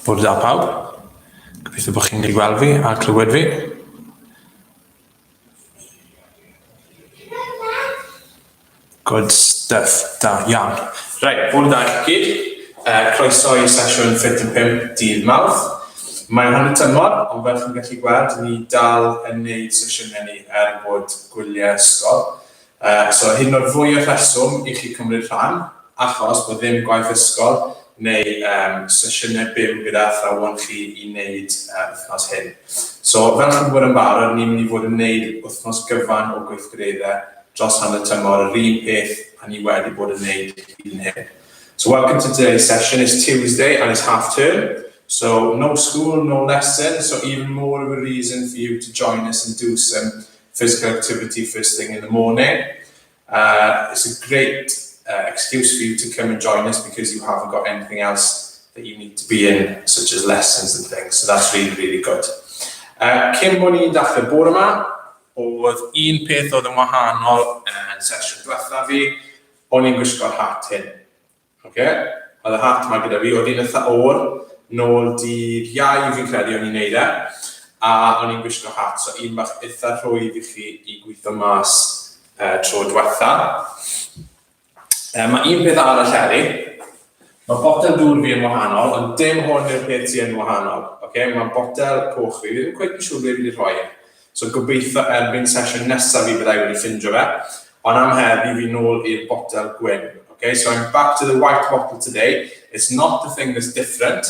Bwrdd da pawb. Gobeithio bod chi'n ei gweld fi a clywed fi. Good stuff. Da iawn. Rhaid, bwrdd da i gyd. Uh, croeso i sesiwn 5 dydd mawrth. Mae'n hanner tymor, ond fel chi'n gallu gweld, ni dal yn neud sesiynau ni er bod gwyliau ysgol. So hyn o'r fwy o rheswm i chi cymryd rhan, achos bod ddim gwaith ysgol neu um, sesiynau byw gyda athrawon chi i wneud uh, wythnos hyn. So fel chi'n gwybod yn barod, ni'n mynd i fod yn wneud wythnos gyfan o gweithgareddau dros hanner tymor, yr un peth a ni wedi bod yn wneud hyd yn hyn. So welcome to today's session. It's Tuesday and it's half term. So no school, no lesson, so even more of a reason for you to join us and do some physical activity first thing in the morning. Uh, it's a great uh, excuse for you to come and join us because you haven't got anything else that you need to be in, such as lessons and things. So that's really, really good. Uh, cyn mwyn i'n dachrau bore yma, oedd un peth oedd yn wahanol yn sesiwn diwetha fi, o'n i'n gwisgo'r hat hyn. Ok, oedd y hat ma gyda fi, oedd hi'n eitha oer, nôl dydd Iau fi'n credu o'n i'n neud e, a o'n i'n gwisgo hat, so un bach eitha rhwydd i chi i gweithio mas uh, tro diwetha. Uh, mae un peth arall eri, mae botel dŵr fi yn wahanol, ond dim hwn yw'r peth ti yn wahanol. Okay? Mae botel coch fi, fi ddim cweith yn siŵr beth fi'n rhoi. So gobeitho erbyn sesiwn nesaf fi byddai wedi ffindio fe, ond am heddi fi nôl i'r botel gwyn. Ok, so I'm back to the white bottle today, it's not the thing that's different,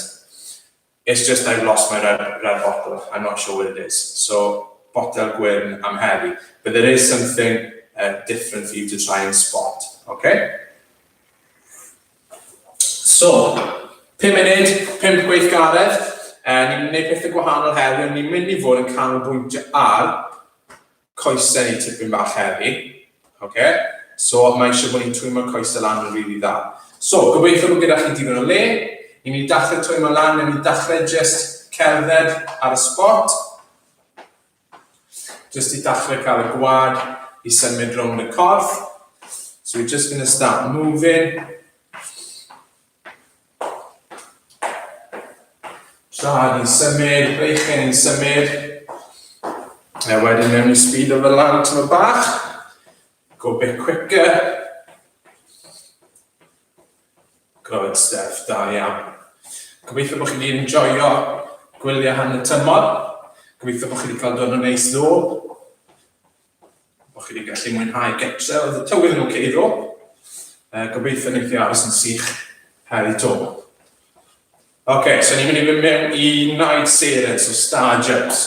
it's just I've lost my red, red bottle, I'm not sure where it is. So botel gwyn am heddi, but there is something uh, different for you to try and spot, ok? So, pum munud, pump gweithgaredd, eh, ni'n gwneud pethau gwahanol heddi, ond ni'n mynd i fod yn canolbwyntio ar coesau neu tipyn bach heddi. Ok, so mae eisiau bod ni'n twymo'r coesau lan yn rili dda. So, gobeithio bod gyda chi digon o le, ni'n mynd i dachrau twymo lan, ni'n mynd i dachrau just cerdded ar y spot, Jyst i dachre cael y gwad i symud rownd y corff. So we're just going to start moving. Traed yn symud, breichen yn symud. A wedyn mewn i speed o fel lan tyma bach. Go bit quicker. Good stuff, da iawn. Gobeithio bod chi wedi enjoyo gwylio han y tymor. Gobeithio bod chi wedi cael dod yn neis ddo. Bod chi wedi gallu mwynhau getre, oedd y tywydd yn oce okay ddo. Uh, gobeithio wneud i aros yn sych heri to. Oce, okay, so ni'n mynd i fynd mewn i Night Sirens o Star Jumps.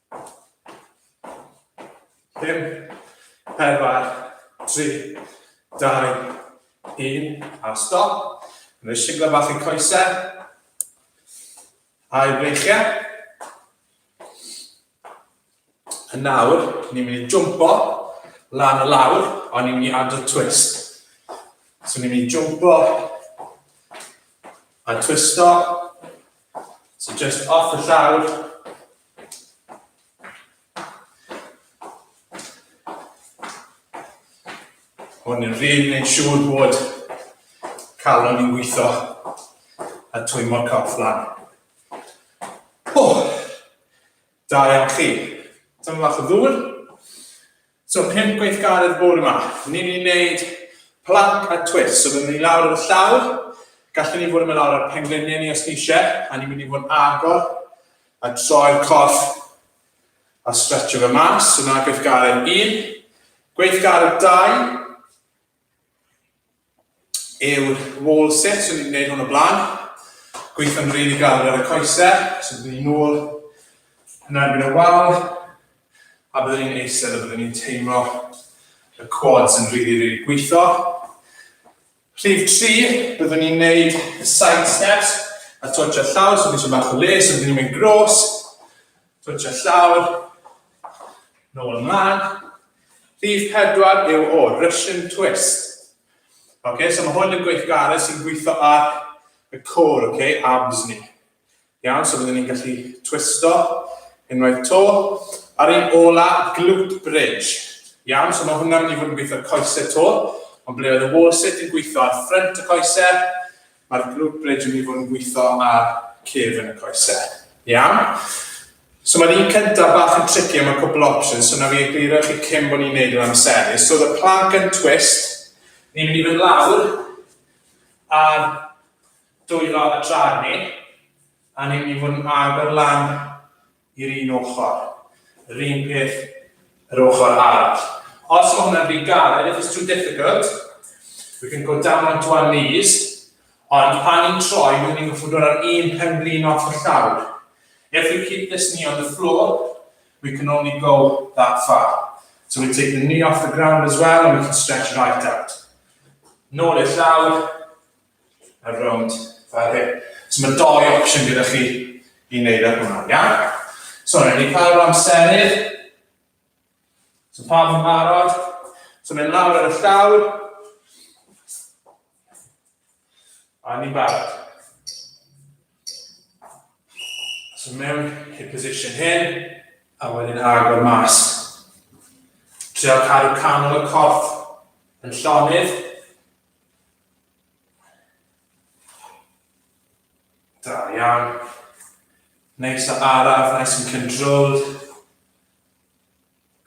Pum, pedwar, tri, dau, un, a stop. Yn ei siglo bach i'r coesau. A'i breichiau. Yn nawr, ni'n mynd i jumpo lan y lawr, ond ni'n mynd i adrodd twist. So ni'n mynd i jumpo a twisto. So just off y llawr, Ond yn rhywun yn siŵr bod calon i'n gweithio a twymo corff lan. O, da iawn chi. Dyma fach o ddŵr. So pump gweithgaredd bore ma, ni'n mynd i wneud plank a twist, so fi'n mynd i lawr ar y llawr, gallwn ni fod yn mynd lawr ar pengliniau ni os ni eisiau, a ni'n mynd i fod yn agor a troi'r corff a stretcho fe mas, so na gweithgaredd un, gweithgaredd dau, yw'r wall sit, so ni'n gwneud hwn o blaen, gweithio'n rili really galed ar y coesau, so byddwn ni'n ôl yn erbyn y wal, a byddwn ni'n eistedd a byddwn ni'n teimlo y quads yn rili, really, rili really gweithio. Rhif 3, byddwn ni'n gwneud y side steps, a twtio llaw, so byddwn ni'n bach o les, so byddwn ni'n mynd gros, Twtio llawr, nôl ymlaen. Rhif pedwar yw o Russian twist. Ok, so mae hwn yn gweithgaredd sy'n gweithio ar y core, ok, abs ni. Iawn, so byddwn ni'n gallu twisto unwaith to. Ar un ola, glute bridge. Iawn, so mae hwnna'n mynd i fod yn gweithio coesau to. Ond ble oedd y wall sit yn gweithio ar ffrant y coesau, Mae'r grwp rydyn ni fod yn gweithio ar cefn y coesau. Iawn? So mae'r un cyntaf bach yn tricky am y cwpl options, so na fi egluro chi cyn bod ni'n neud yr amserus. So the plank and twist, ni'n mynd i fynd lawr ar dwylo y traed ni, a ni'n mynd i fod yn agor lan i'r un ochr, yr un peth yr ochr arall. Os mae hwnna'n rhy galed, if it's too difficult, we can go down onto our knees, ond pan ni'n troi, byddwn ni'n goffod dod ar un pen blin off y llawr. If we keep this knee on the floor, we can only go that far. So we take the knee off the ground as well and we can stretch right out. Nôl i'r llawr, a rownd fel hyn. So mae doi opsiwn gyda chi i wneud ar hwnna, iawn? So, rydyn ni cael amserydd. So pa fo'n barod? So mae'n lawr ar y llawr. A ni'n barod. So mewn i'r position hyn, a wedyn agor mas. Trio cadw canol y corff yn llonydd. Da iawn. Neis o araf, nice and controlled.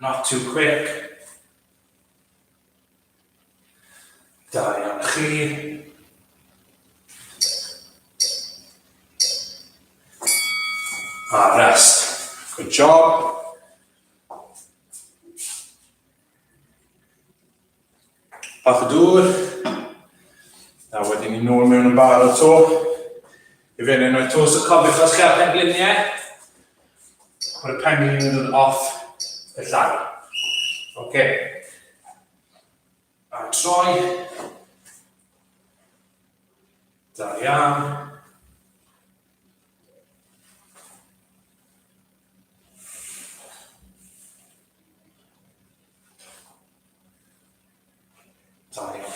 Not too quick. Da iawn chi. A rest. Good job. Bach o dŵr. A wedyn ni nôl mewn yn bar o to. I fe neu noi to, so cofiwch os gael pengliniau. Mae'r penglin yn dod off y llai. Oce. Okay. A troi. Da iawn.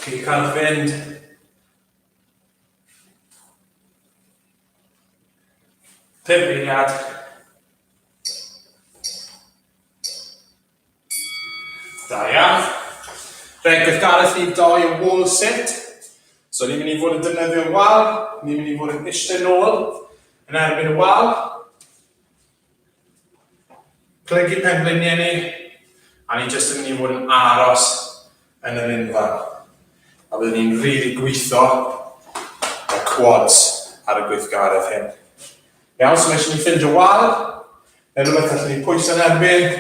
Chi'n cael fynd. Pum eiliad. Da iawn. Fe gyfgareth ni doi o wall sit. So ni'n mynd i fod yn defnyddio'r wal, ni'n mynd i fod yn eistedd nôl yn erbyn y wal. Plygu pengliniau ni, a ni jyst yn mynd i fod yn aros yn yr unfan. A byddwn ni'n rili gwitho y quads ar y gweithgaredd hyn. Iawn, so mae eisiau ni ffindio wal, neu rhywbeth gallen ni pwyso yn erbyn,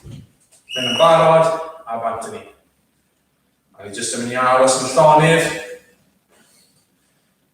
mynd yn barod, a bant ni. A ni jyst yn mynd i aros yn llonydd,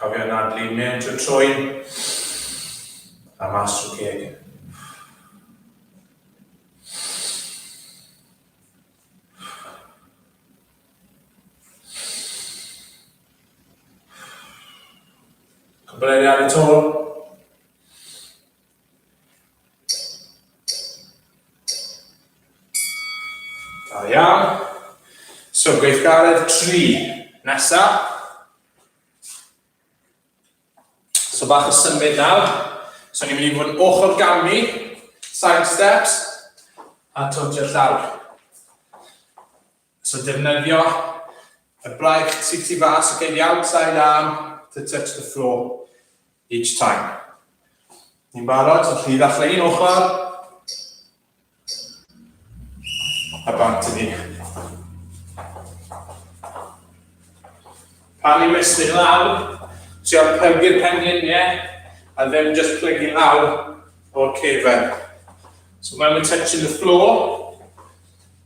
Cofio nadlu mewn trwy trwyn a mas trwy ceg. Cwbl eiriau ar y tôl. Da iawn. So gweithgaredd 3. Nesa. So bach o symud nawr. So ni'n mynd i fod yn ochr gan mi. Side steps. A totio'r llawr. So defnyddio y braich tu tu fas, okay, the outside arm to touch the floor each time. Ni'n barod, so chi ddechrau un ochr, a bant i ni. Pan ni'n mesur lawr, trio plygu'r pengliniau, a ddim just plygu lawr o'r cefen. So when we're touching the floor,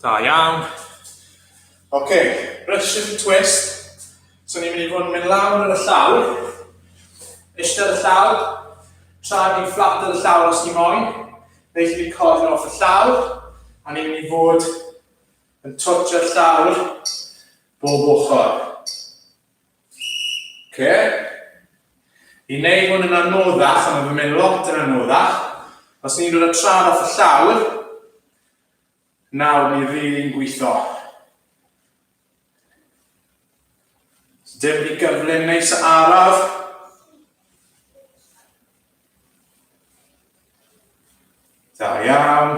Da iawn. Ok, Russian twist. So ni'n mynd i fod yn mynd lawr ar y llawr, eistedd ar y llawr, tra ni'n fflat ar y llawr os ni moyn, neu ni'n cofio off y llawr, a ni'n mynd i fod yn twtio'r llawr bob ochr. Oce. I wneud hwn yn anoddach, a mae fe'n mynd lot yn anoddach, os ni'n dod â trad off y llawr, nawr ni'n rili'n gweithio. So dim rhy gyflym neis a araf. Da iawn.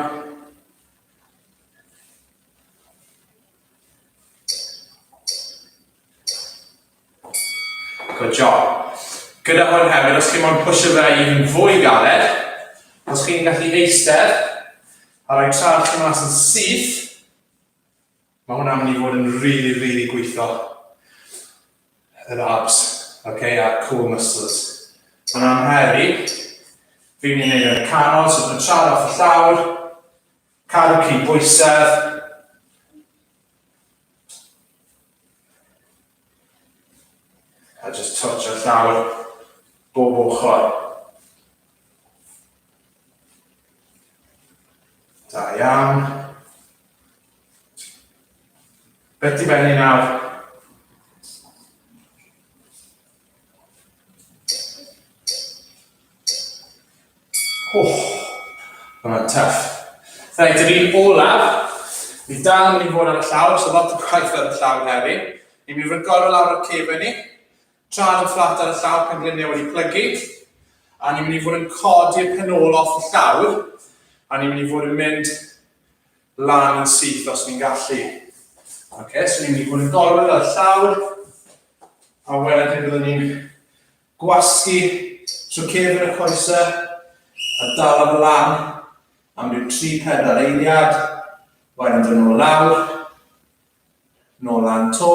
Good job. Gyda hwn hefyd, os chi'n mwyn pwysio fe i yn fwy galed, os chi'n gallu eistedd, a rhoi traed chi mas yn syth, Mae hwnna'n mynd i fod yn really, really gweithio yr abs, okay, a'r core muscles. Mae'n amheru, fi'n mynd i wneud yn y canol, so dwi'n trad off y llawr, cadw cyn bwysedd, A just torchio llawr bob ochr. Da iawn. Beth di benni nawr? Hwnna'n tuff. Reit, yr un olaf, bydd dal yn mynd i fod ar y llawr, so lot o gwaith ar y llawr heddi. Ni'n mynd i recordo lawr o'r cefau ni, traed yn fflat ar y llawr pan gliniau wedi plygu, a ni'n mynd i fod yn codi'r penol off y llawr, a ni'n mynd i fod yn mynd lan yn syth os ni'n gallu. Ok, so ni'n mynd i fod yn gorwedd ar llawr, a wedyn byddwn ni'n gwasgu trwy cefn y coesau, a dal am lan am ryw 3-4 eiliad, wedyn dyn nhw lawr, nôl lan to,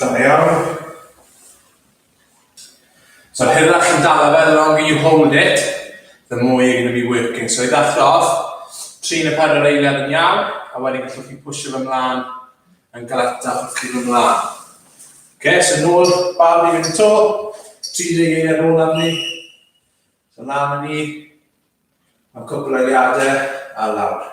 Da iawn. So hynna chi'n dala fe, the longer you hold it, the more you're going to be working. So i ddechrau, tri neu pedwar eiliad yn iawn, a wedyn gallwch chi pwysio fy mlaen yn galetach wrth chi fy mlaen. Okay, so nôl, bar ni fynd y to, 30 eiliad nôl am ni. So lan ni, am cwpl o eiliadau, a lawr.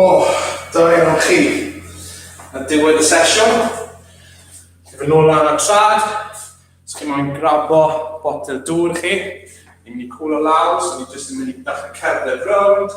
O, da iawn chi. Yn diwedd y sesiwn, chi fy nôl lan y trad, os chi moyn grabo botel dŵr chi, ni'n mynd i cwlo lawr, so ni jyst yn mynd i dach y cerdded rownd,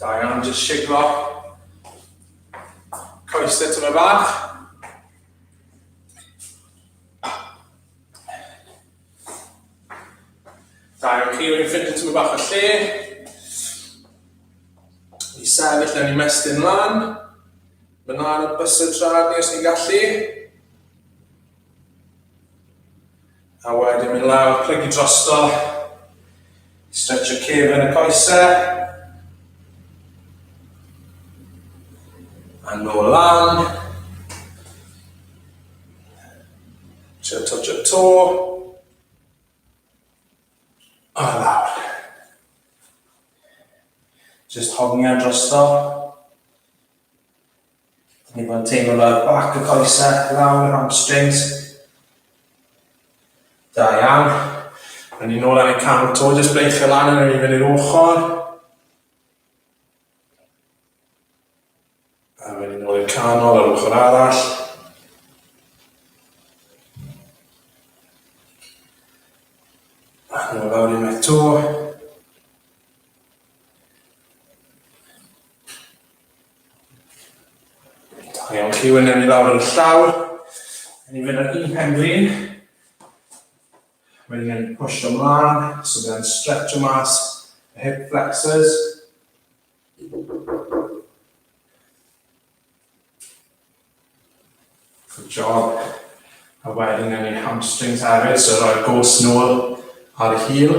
Da iawn, just siglo. Coes y tyma bach. Da iawn, chi wedi ffind y tyma bach o lle. I sefyll yn i mestyn lan. Mae'n lan o bus y trad ni os ni'n gallu. A wedyn mynd lawr, plygu drosto, stretch y cef yn y coesau. A nôl lan. Trio touch y to. A lawr. Just hongian drosto. Ni bod yn teimlo fel bac y coesau lawr y hamstrings. Da iawn. Rydyn ni'n ôl ar ein camel to, jyst bleichio lan yn ei fyny'r ochr. A rydyn ni'n ôl i'r canol ar ochr arall. A nhw lawr i'n eto. Da iawn chi, wyneb ni lawr yn llawr. Yn ni'n mynd ar un pen glin. Wedyn ni'n push ymlaen, so byddai'n stretch o mas y hip flexors. Good job. A wedyn yn ni'n hamstrings hefyd, so roi'r gos nôl ar y heel.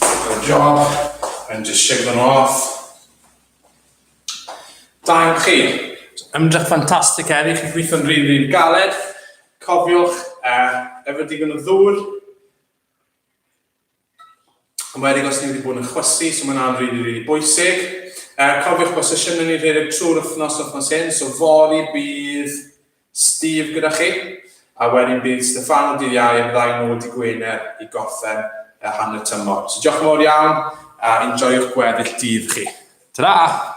Good job, and just shake them off. Da iawn chi. Ymdrech ffantastig heddi, chi'n gweithio'n rili, rili galed. Cofiwch, uh, efo digon o ddŵr. Yn wedi os ni wedi bod yn chwysu, so mae'n rhan rili, rili bwysig. Uh, cofiwch bod sesiynau ni rhedeg trwy'r wythnos, wythnos hyn, so fori bydd Steve gyda chi, a wedyn bydd Steffano dydd Iau yn ddau nôl dy Gwener i gorffen y hanner tymor. So diolch yn fawr iawn a enjoiwch gweddill dydd chi. Ta-ra!